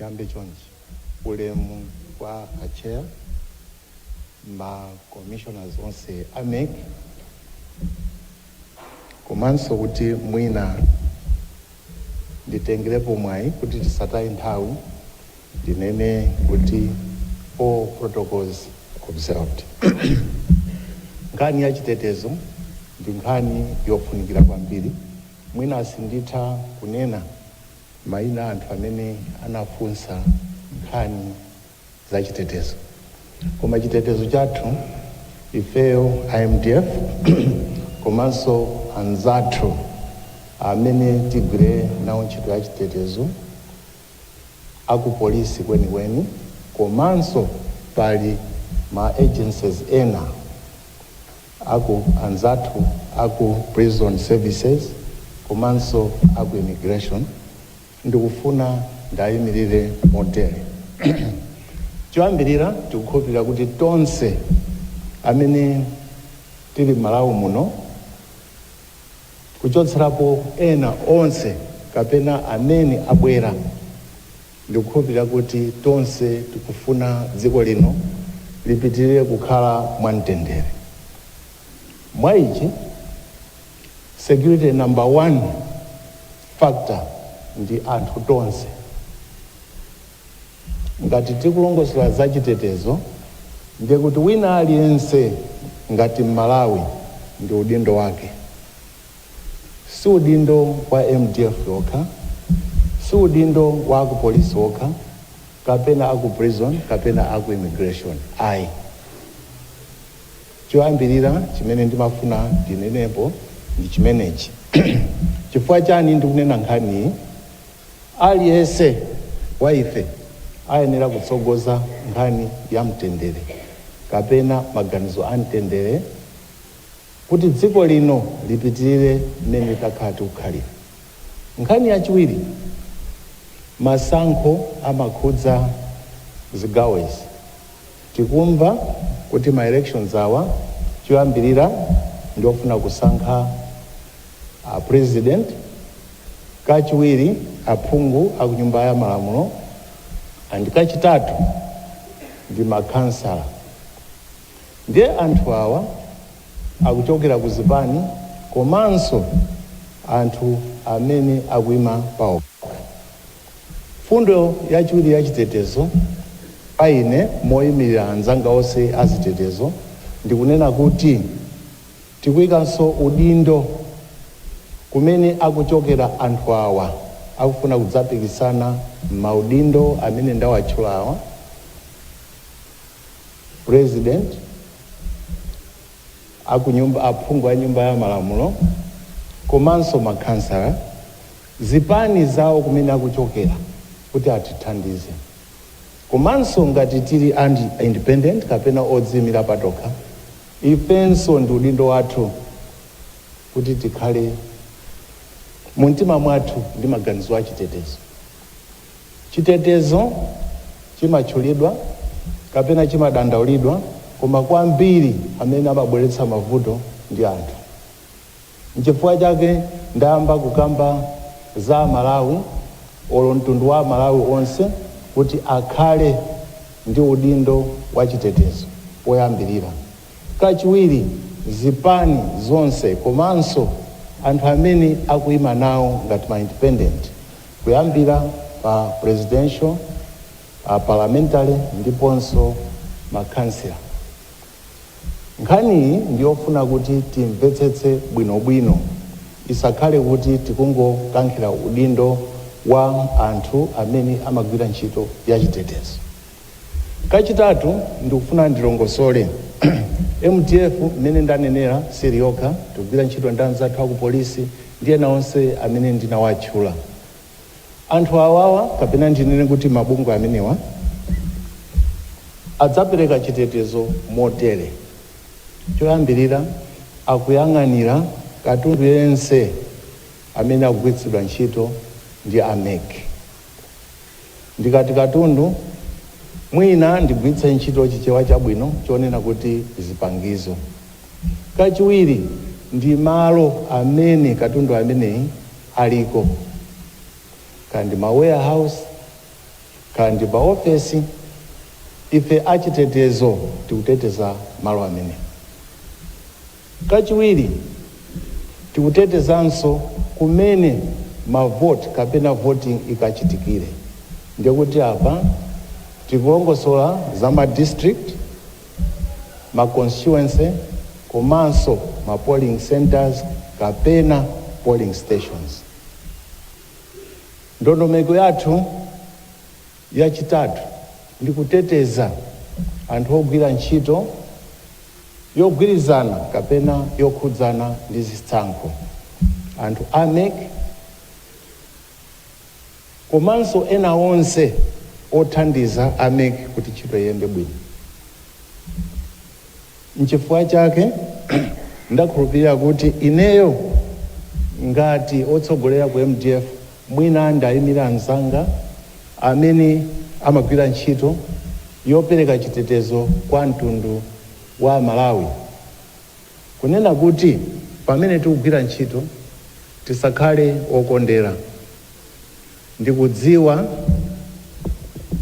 Ndikambe chonchi ulemu kwa achair ma commissioners onse a mec komanso kuti mwina Nditengerepo mwayi kuti tisataye nthawi ndinene kuti all protocols observed. Nkhani ya chitetezo ndi nkhani yofunikira kwambiri. Mwina sinditha kunena maina a anthu amene anafunsa nkhani. za chitetezo koma chitetezo chathu ifeyo a mdf komanso anzathu amene tigwire nawo ntchito ya chitetezo akupolisi kwenikweni komanso pali ma agencies ena aku anzathu aku prison services komanso aku immigration Ndikufuna ndaimirire motere. Choyambirira, tikukhulupirira kuti tonse amene tili m'Malawi muno, kuchotserapo ena onse kapena amene abwera, ndikukhulupirira kuti tonse tikufuna dziko lino lipitirire kukhala mwamtendere. Mwa ichi. Security number one factor ndi anthu tonse. Ngati tikulongosola za chitetezo ndiye kuti wina aliyense ngati Mmalawi ndi udindo wake. Si udindo wa mdf okha, si udindo wa aku polisi okha kapena aku prison kapena aku immigration ayi. Choyambirira chimene ndimafuna ndinenepo ndi chimenechi. Chifukwa chani ndikunena nkhaniyi? Aliyense wa ife ayenera kutsogoza nkhani ya mtendere kapena maganizo a mtendere kuti dziko lino lipitirire mmene takhala tikukhalira. Nkhani yachiwiri, masankho amakhudza zigawo izi. Tikumva kuti ma elections awa choyambirira ndi ofuna kusankha a president, kachiwiri aphungu aku nyumba ya malamulo and kachitatu ndi ma khansala. Ndiye anthu awa akuchokera ku zipani komanso anthu amene akuima paokha. Mfundo yachiwiri ya chitetezo pa ine moyimilira anzanga onse a zitetezo ndi kunena kuti tikuikanso udindo kumene akuchokera anthu awa akufuna kudzapikisana m'maudindo amene ndawatchulawa, President, aphungu a nyumba ya malamulo komanso ma khansala. zipani zawo kumene akuchokera kuti atithandize komanso ngati tili and independent kapena odziimira patokha ifenso ndi udindo wathu kuti tikhale mu mtima mwathu ndi maganizo achitetezo. Chitetezo chimatchulidwa kapena chimadandaulidwa koma kwambiri amene amabweretsa mavuto ndi anthu. Nchifukwa chake ndayamba kukamba za amalawi olo mtundu wa amalawi onse kuti akhale ndi udindo wa chitetezo poyambilira. Kachiwiri zipani zonse komanso anthu amene akuima nawo ngati ma independent kuyambira pa presidential, a parliamentary ndiponso ma councillor. Nkhaniyi ndi yofuna kuti timvetsetse bwinobwino, isakhale kuti tikungokankhira udindo wa anthu amene amagwira ntchito ya chitetezo. Kachitatu, ndikufuna ndilongosole, mdf mmene ndanenera siili yokha, tikugwira ntchito ndi anzathu akupolisi ndi ena onse amene ndinawatchula. Anthu awawa kapena ndinene kuti mabungwe amenewa adzapereka chitetezo motere, choyambirira akuyang'anira katundu yense amene akugwiritsidwa ntchito ndi a mec. Ndikati katundu mwina ndigwiritse ntchito chichewa chabwino chonena kuti zipangizo. Kachiwiri ndi malo amene katundu ameneyi aliko, kaya ndi ma warehouse, kaya ndi pa ofesi, ife achitetezo tikuteteza malo amenewo. Kachiwiri, tikutetezanso kumene ma vote kapena voting ikachitikire. Ndiye kuti apa tikulongosola za ma district. ma constituency komanso ma polling centres kapena polling stations. Ndondomeko yathu yachitatu ndi kuteteza anthu ogwira ntchito yogwirizana kapena yokhudzana ndi zisankho, anthu a mec, komanso ena onse othandiza a MEC kuti ntchito iyende bwino. Nchifukwa chake ndakhulupirira kuti ineyo ngati otsogolera ku MDF mwina ndiayimire anzanga amene amagwira ntchito yopereka chitetezo kwa mtundu wa Amalawi. Kunena kuti pamene tikugwira ntchito tisakhale okondera. Ndikudziwa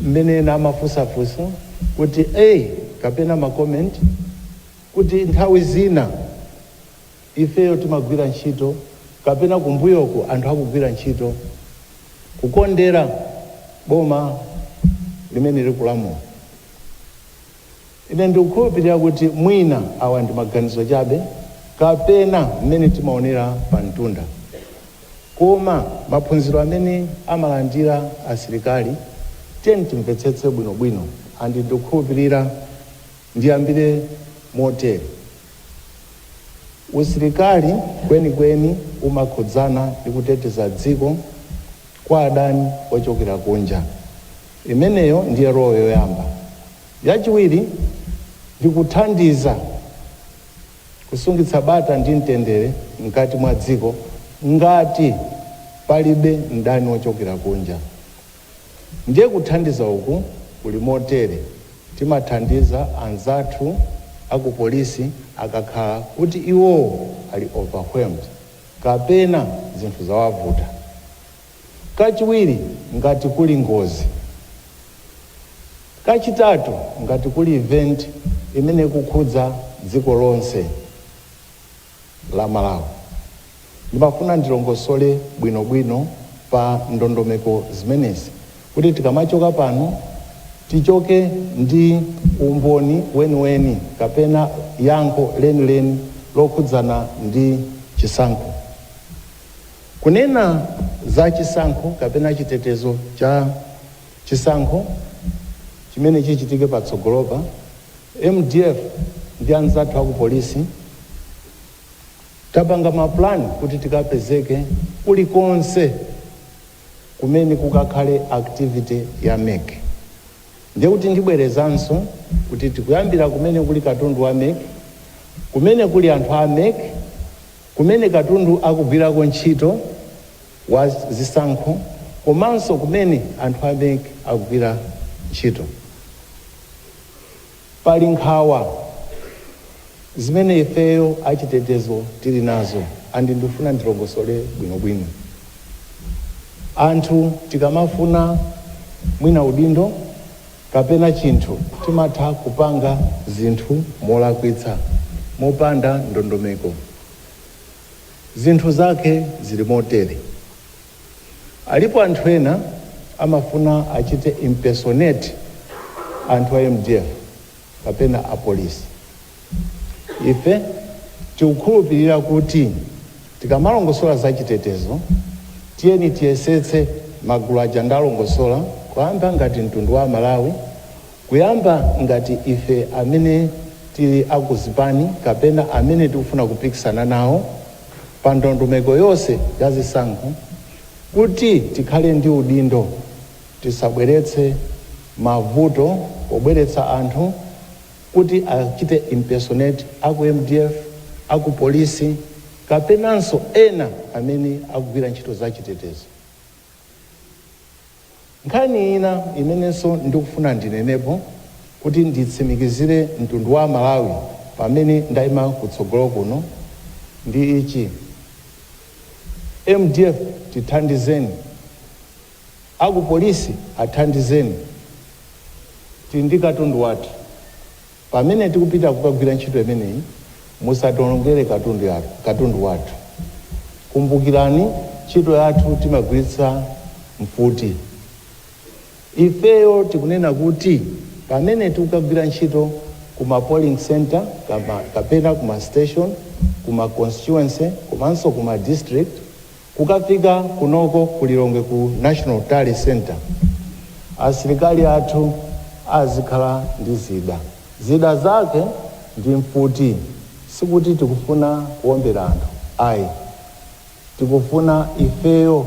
mmene ena amafunsa funso kuti a kapena ma comment kuti nthawi zina ifeyo timagwira ntchito kapena kumbuyoku anthu akugwira ntchito kukondera boma limene likulamula. Ine ndikukhulupirira kuti mwina awa ndi maganizo chabe, kapena mmene timaonera pa mtunda, koma maphunziro amene amalandira asilikali, tiyeni timvetsetse bwinobwino, and ndikukhulupirira ndiyambire motere, usilikali kwenikweni umakhudzana ndi kuteteza dziko kwa adani ochokera kunja. Imeneyo ndiye role yoyamba. Yachiwiri ndi kuthandiza kusungitsa bata ndi mtendere mkati mwa dziko ngati palibe mdani wochokera kunja. Ndiye kuthandiza uku kuli motere, timathandiza anzathu a ku polisi akakhala kuti iwowo ali overwhelmed kapena zinthu zawavuta. Kachiwiri, ngati kuli ngozi. Kachitatu, ngati kuli event imene ikukhudza dziko lonse la Malawi. Ndimafuna ndilongosole bwino bwino pa ndondomeko zimenezi kuti tikamachoka pano tichoke ndi umboni weni weni kapena yankho leni leni lokhudzana ndi chisankho. Kunena za chisankho kapena chitetezo cha chisankho chimene chichitike patsogolopa, MDF ndi anzathu aku Polisi tapanga ma plan kuti tikapezeke kulikonse kumene kukakhale activity ya MEC. Ndiye kuti ndibwerezanso kuti tikuyambira kumene kuli katundu wa MEC, kumene kuli anthu a MEC, Kumene katundu akugwirako ntchito wa zisankho komanso kumene anthu a mec akugwira ntchito pali nkhawa zimene ifeyo achitetezo tili nazo and ndifuna ndilongosole bwinobwino. Anthu tikamafuna mwina udindo. kapena chinthu timatha kupanga zinthu molakwitsa, mopanda ndondomeko. Zinthu zake zili motere. Alipo anthu ena amafuna achite impersonate anthu a mdf kapena apolisi. Ife tikukhulupirira kuti tikamalongosola za chitetezo, tiyeni tiyesetse magulu aja ndalongosola, kuyamba ngati mtundu wa Amalawi, kuyamba ngati ife amene tili a ku zipani kapena amene tikufuna kupikisana nawo pa ndondomeko yonse ya zisankho, kuti tikhale ndi udindo. Tisabweretse mavuto pobweretsa anthu kuti achite impersonate a ku mdf, a ku polisi kapenanso ena amene akugwira ntchito za chitetezo. Nkhani ina imenenso ndikufuna ndinenepo kuti nditsimikizire mtundu wa Amalawi pamene ndaima kutsogolo kuno ndi ichi, mdf tithandizeni. Aku polisi athandizeni tili ndi katundu wathu pamene tikupita kukagwira ntchito imeneyi musationongere katundu wathu kumbukirani ntchito yathu timagwiritsa mfuti ifeyo tikunena kuti pamene tikukagwira ntchito ku ma polling centre kapena ku ma station ku ma constituency komanso ku ma district Kukafika kunoko ku Lilongwe ku National Tally Centre asilikali athu azikhala ndi zida. Zida zake ndi mfuti. Sikuti tikufuna kuombera anthu ayi. Tikufuna ifeyo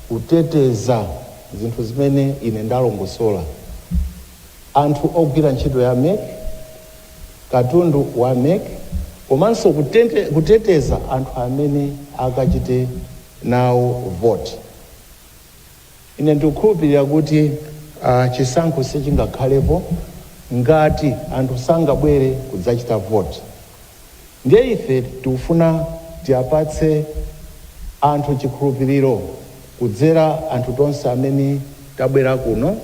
kuteteza zinthu zimene ine ndalongosola. Anthu ogwira ntchito ya mec, katundu wa mec komanso kuteteza anthu amene akachite nawo vote. Ine ndikukhulupilira kuti chisankho sichingakhalepo ngati anthu sangabwere kudzachita vote. Ndiye ife tikufuna tiapatse anthu chikhulupiriro kudzera anthu tonse amene tabwera kuno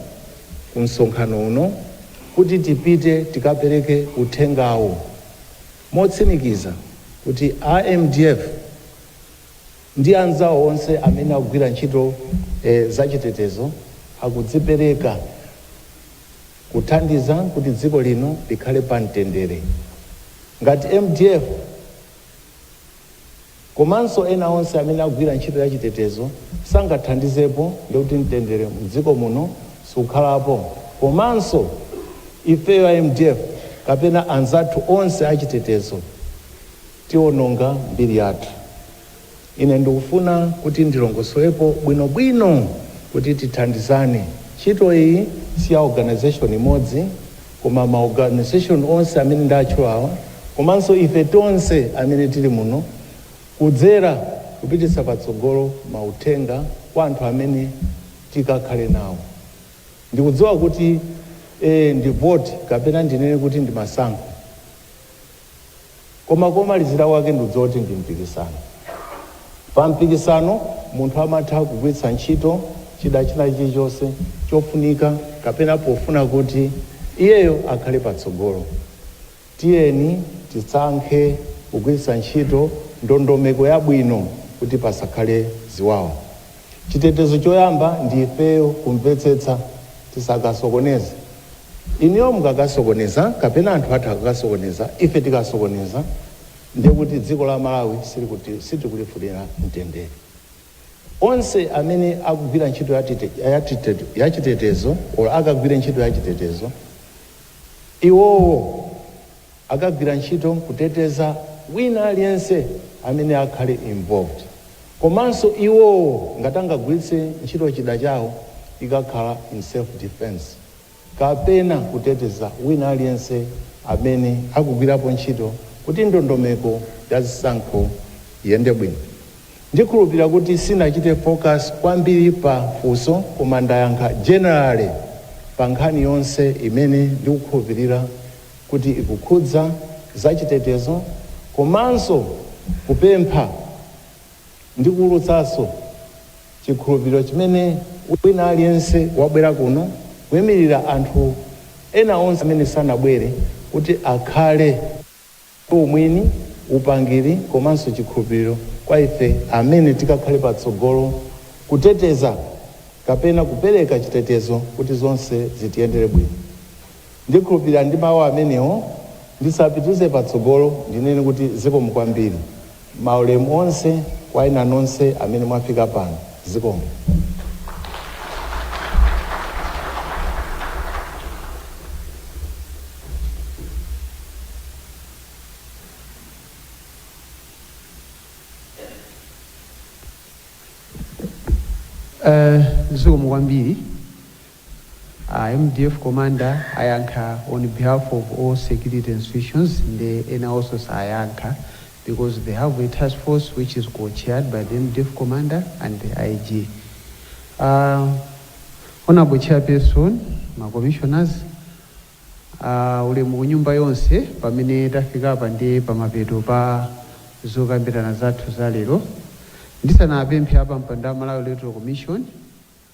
ku msonkhano uno kuti tipite tikapereke uthengawo motsimikiza kuti a mdf ndi anzawo onse amene akugwira ntchito zachitetezo akudzipereka. kuthandiza kuti dziko lino likhale pa mtendere. Ngati mdf komanso ena onse amene akugwira ntchito ya chitetezo sangathandizepo ndiye kuti mtendere mdziko muno sukhalapo komanso ifeyo a mdf kapena anzathu onse achitetezo tiononga mbiri yathu. Ine ndikufuna kuti ndilongosolepo bwino bwino kuti tithandizane. Ntchito iyi si ya organization imodzi koma ma organization onse amene ndatchulawa komanso ife tonse amene tili muno kudzera kupititsa patsogolo ma uthenga kwa anthu amene tikakhale nawo. Ndikudziwa kuti ee ndi vote kapena ndinene kuti ndi masankho. koma komalizira kwake ndikudziwa kuti ndi mpikisano. Pa mpikisano munthu amatha kugwiritsa ntchito chida china chilichonse chofunika kapena pofuna kuti iyeyo akhale patsogolo. Tiyeni tisankhe kugwiritsa ntchito ndondomeko yabwino kuti pasakhale ziwawa. Chitetezo choyamba ndi ifeyo kumvetsetsa tisakasokoneze. Inuyo mukakasokoneza kapena anthu athu akakasokoneza ife tikasokoneza ndiye kuti dziko la Malawi sitikulifunira mtendere. Onse amene akugwira ntchito ya chitetezo or akagwire ntchito ya chitetezo iwowo akagwira ntchito kuteteza wina aliyense amene akhale involved komanso iwowo ngati angagwiritse ntchito chida chawo ikakhala in self defence. kapena kuteteza wina aliyense amene akugwirapo ntchito kuti ndondomeko ya zisankho iyende bwino. Ndikhulupilira kuti sinachite focus kwambiri pa funso koma ndayankha generally pa nkhani yonse imene ndikukhulupilira kuti ikukhudza zachitetezo komanso kupempha. ndi kuwulutsanso chikhulupiriro chimene wina aliyense wabwera kuno, kuimirira anthu ena onse amene sanabwere, kuti akhale umwini, upangiri komanso chikhulupiriro kwa ife amene tikakhale patsogolo kuteteza kapena kupereka chitetezo kuti zonse zitiyendere bwino. Ndikhulupirira ndi mawu amenewo ndisapitize patsogolo ndinene kuti zikomo kwambiri. Maulemu onse kwa inu nonse amene mwafika pano. Zikomo. Zikomo kwambiri. A mdf commander ayankha on behalf of all security institutions nde enawonso sayankha because they have a task force which is co-chaired by the mdf commander and the IG. A Honourable Chairperson, ma commissioners, a ulemu kunyumba yonse pamene tafikapa ndiye pamapeto pa zokambirana zathu za lero. Ndisanapemphe a pampando a Malawi Electoral Commission,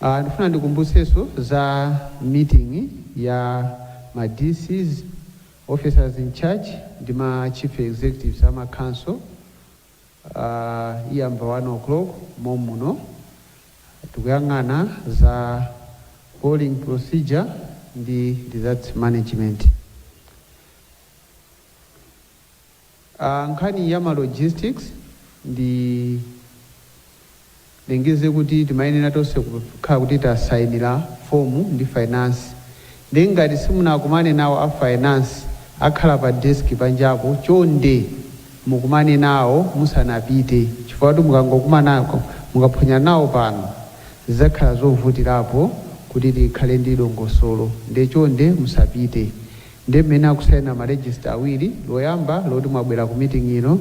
Ah, ndifuna ndikumbutsenso za meeting ya ma DCs, officers in charge ndi ma chief executives a ma council uh, iyamba 1 o'clock momuno tikuyang'ana za polling procedure ndi results management A, nkhani ya ma logistics ndilengeze kuti timayenera tonse kukhala kuti tasainira form ndi finance nde ngati simunakumane nawo a finance akhala pa desk panjapo chonde mukumane nawo musanapite chifukwa choti mukangokumanako mukaphonya nawo pano zidzakhala zovutirapo kuti tikhale ndi dongosolo nde chonde musapite Ndiye mmene mukusaina ma register awiri, loyamba loti mwabwera ku meeting ino,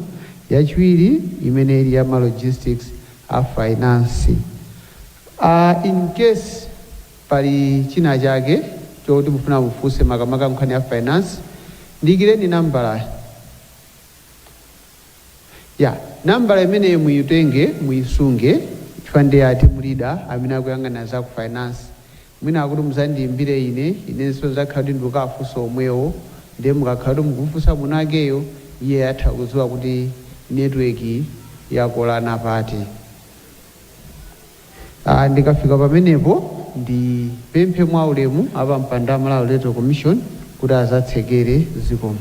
yachiwiri imene ili ya ma logistics a finance. Aaa in case pali china chake choti mufuna mufunse makamaka nkhani ya finance, ndiyikireni nambala ya, nambala imeneyo muyitenge muyisunge chifukwa ndi ya team leader amene akuyang'ana za ku finance. Mwina kuti muzandiyimbire ine, inenso nzakhala kuti ndikukafunsa omwewo, ndiye mukakhala kuti mukumufunsa mwinakeyo iye atha kudziwa kuti network yakolana pati. Aaa ndikafika pamenepo ndipemphe mwa ulemu a pampando a Malawi Electoral Commission kuti adzatsekere zikomo.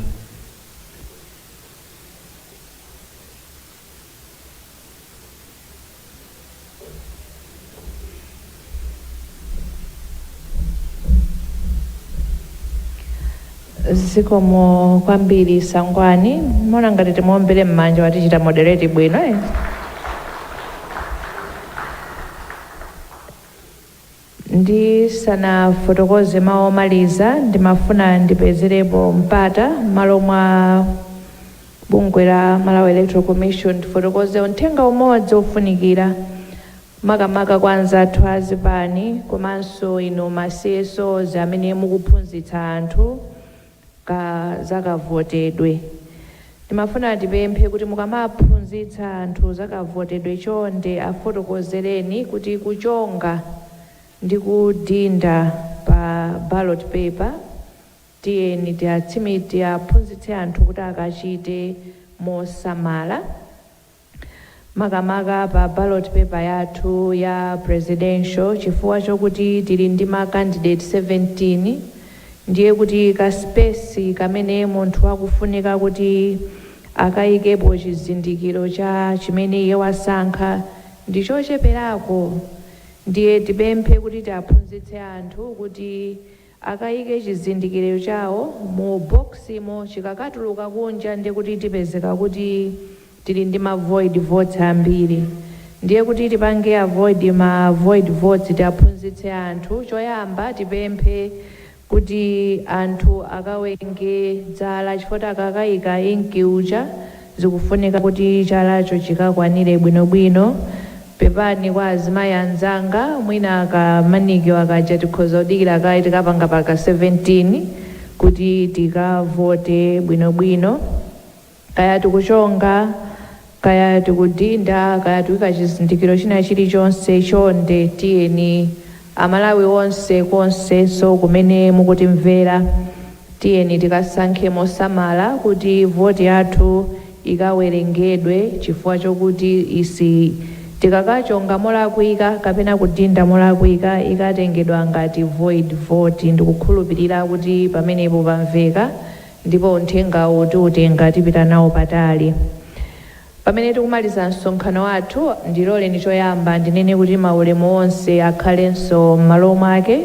zikomo kwambiri Sangwani mona ngati timuwombere m'manja watichita moderate bwino eh? Ndisanafotokoze mau omaliza, ndimafuna ndipezerepo mpata m'malo mwa bungwe la Malawi Electoral Commission ndifotokoze unthenga umodzi ofunikira makamaka kwa anzathu a zipani komanso inu ma CSOs amene mukuphunzitsa anthu, ka za kavotedwe. Timafuna tipemphe kuti mukamaphunzitsa anthu za kavotedwe chonde afotokozereni kuti kuchonga ndi kudinda pa ballot paper tiyeni tiatsimik tiaphunzitse anthu kuti akachite mosamala. makamaka pa ballot paper yathu ya presidential chifukwa chokuti tili ndi ma candidate 17 ndiye kuti ka space kamene munthu akufunika kuti akayikepo chizindikiro cha chimene iye wasankha ndi chocheperako ndiye tipemphe kuti tiaphunzitse anthu kuti akayike chizindikiro chawo mu box mo chikakatuluka kunja ndiye kuti tipezeka kuti tili ndi ma void votes ambiri ndiye kuti tipange avoid ma void votes tiaphunzitse anthu choyamba tipemphe kuti anthu akawenge dzala chifukwa akakayika ink uja Zikufunika kuti chalacho chikakwanire bwinobwino. Pepani kwa azimayi anzanga, mwina ka manicure kaja tikhoza kudikira kaye tikapanga patatha 17 kuti tikavote bwinobwino. Kaya tikuchonga, kaya tikudinda, kaya tikuika chizindikiro china chilichonse, chonde tiyeni. Amalawi onse konsekonse kumene mukutimvera tiyeni tikasankhe mosamala kuti vote yathu ikawerengedwe chifukwa chokuti isi tikakachonga molakwika kapena kudinda molakwika ikatengedwa ngati void vote ndikukhulupilira kuti pamenepo pamveka ndipo unthengawu tiutenga tipita nawo patali Pamene tikumaliza msonkhano wathu, ndiloleni choyamba ndinene kuti maulemu onse akhalenso m'malo mwake.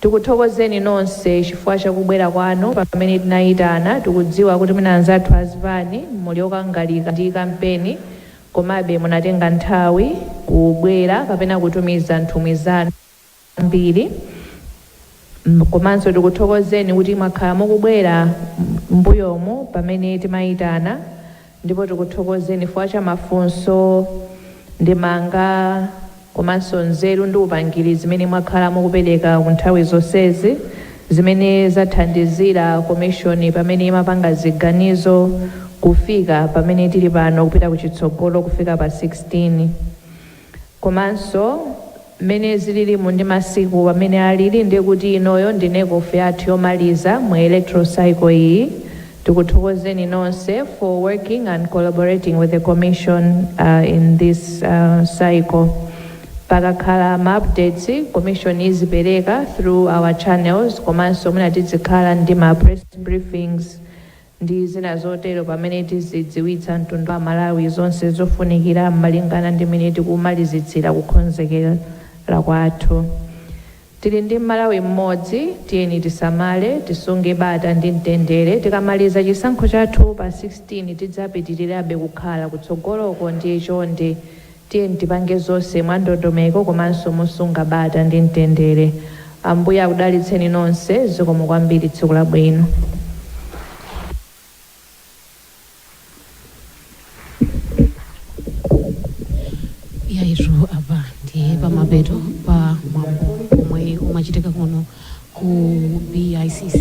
Tikuthokozeni nonse chifukwa cha kubwera kwanu pamene tinayitana. Tikudziwa kuti mwina anzathu a zipani muli okangalika ndi kampeni, komabe munatenga nthawi kubwera kapena kutumiza nthumwi zanu. kwambiri komanso tikuthokozeni kuti mwakhala mukubwera m'mbuyomu pamene timayitana ndipo tikuthokozeni chifukwa cha mafunso, ndemanga komanso nzeru ndi upangiri zimene mwakhala mukupereka ku nthawi zonsezi zimene zathandizira komishoni pamene imapanga ziganizo kufika pamene tili pano kupita kuchitsogolo kufika pa 16. Komanso mmene zililimu ndi masiku mmene alili ndiye kuti inoyo ndi NECOF yathu yomaliza mu electoral cycle iyi. Tikuthokozeni nonse for working and collaborating with the commission in this cycle. Pakakhala ma updates commission izipereka through our channels komanso mwina tidzikhala ndi ma press briefings ndi zina zotero pamene tizidziwitsa mtundu wa Malawi zonse zofunikira malingana ndi mmene tikumalizitsira kukonzekera kwathu. Tili ndi Malawi mmodzi, tiyeni tisamale, tisunge bata ndi mtendere, tikamaliza chisankho chathu pa 16 tidzapitirirabe kukhala kutsogoloko ndiye chonde Tiyeni tipange zonse mwandondomeko komanso mosunga bata ndi mtendere. Ambuye akudalitseni nonse. Zikomo kwambiri. Tsiku labwino. Yaitu apa ndi pamapeto pa mwambo omwe umachitika kuno ku BICC.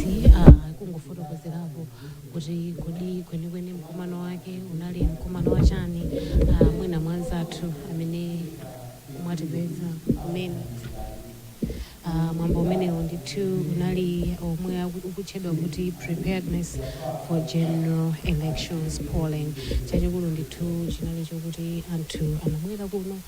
kuti kodi kwenikweni mkumano wake unali mkumano wa chani ah, mwina mwanzathu amene mwatipeza kumene Ah, mwambo umenewo ndithu unali omwe aku- ukutchedwa kuti preparedness for general elections polling chachikulu ndithu chinali chokuti anthu anabwera kuno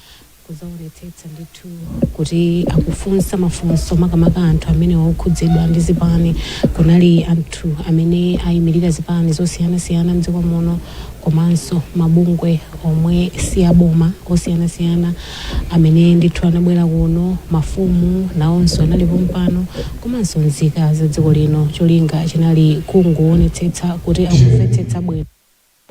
kudzaonetsetsa ndithu kuti akufunsa mafunso makamaka anthu amene okhudzidwa ndi zipani kunali anthu amene ayimirira zipani zosiyanasiyana mdziko muno komanso mabungwe omwe si aboma osiyanasiyana amene ndithu anabwera kuno mafumu nawonso anali pompano komanso nzika za dziko lino cholinga chinali kungoonetsetsa kuti akumvetsetsa bwino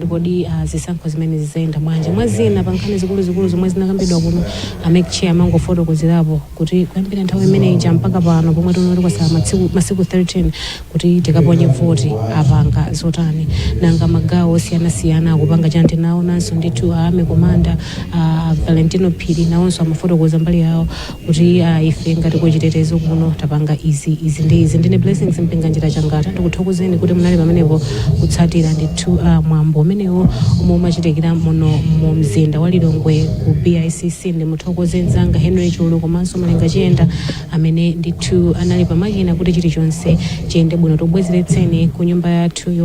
Kodi zisankho zimenezi zidzayenda bwanji? Mwa zina pa nkhani zikuluzikulu zomwe zinakambidwa kuno, a Mec Chair amangofotokozerapo kuti kuyambira nthawi imene ija mpaka pano pomwe tinoti kwatsala masiku 13 kuti tikaponye voti apanga zotani? Nanga magawo osiyanasiyana akupanga chani? Tinaonanso ndithu a Army Commander a Valentino Phiri nawonso amafotokoza mbali yawo. kuti ah ife ngati ku chitetezo kuno tapanga izi, izi ndi izi. Ndine Blessings Mpinganjira Changata, ndikuthokozeni kuti munali pamenepo kutsatira ndithu ah mwambo umenewo omwe umachitikira muno mu mzinda wa Lilongwe ku BICC. Ndimuthokoze nzanga Henry Chulu komanso Malenga Chiyenda amene ndithu anali pamakina kuti chilichonse chiyende bwino. Tikubwezeretseni ku nyumba yathu yo.